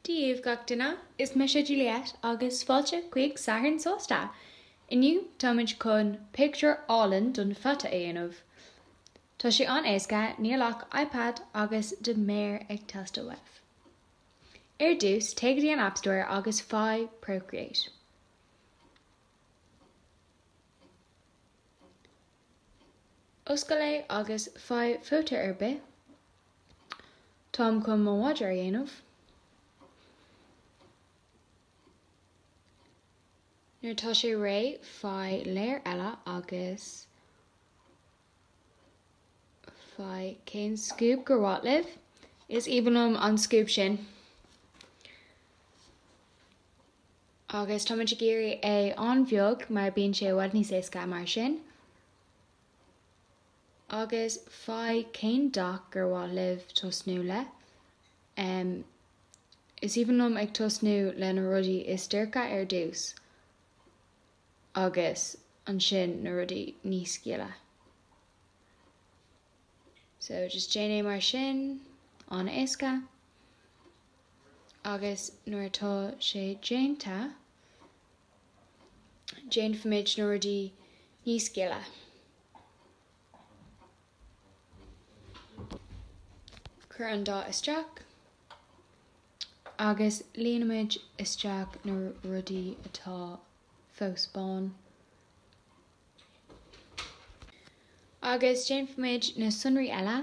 daoibh gach duine. Is mise Juliette agus fáilte chuig Satharn Sásta! Inniu táimid chun pictiúr álainn den pheata a dhéanamh. Tá sé an-éasca, níl ach iPad agus do mhéar ag teastáil uaibh. Ar dtús, téigh go dtí an App Store agus faigh Procreate. Oscail é agus faigh photo ar bith. Táim chun mo mhadra a dhéanamh. Nuair atá sé réidh, faigh layer eile agus faigh cén scuab gur mhaith libh. Is aoibhinn liom an scuab sin! Agus tá muid ag iarraidh é an-bheag mar bíonn sé i bhfad níos éasca mar sin. Agus faigh cén dath gur mhaith libh tosnú le. em. is aoibhinn liom ag tosnú le na rudaí is dorcha ar dtús agus ansin na rudaí níos gile. So just déan é mar sin, an-éasca. agus nuair atá sé déanta, déanfaimid na rudaí níos gile. Cuir an dath isteach agus líonfaimid isteach na rudaí atá fós bán. Agus déanfaimid na sonraí eile.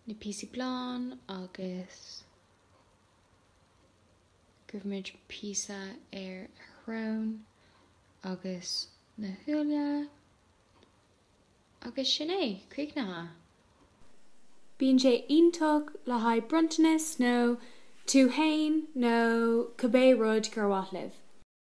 na píosaí bán agus cuirfimid píosa ar a shrón agus na súile agus sin é, críochnaithe! Bíonn sé iontach le haghaidh bronntanas nó tú fhéin nó cibé rud gur mhaith libh.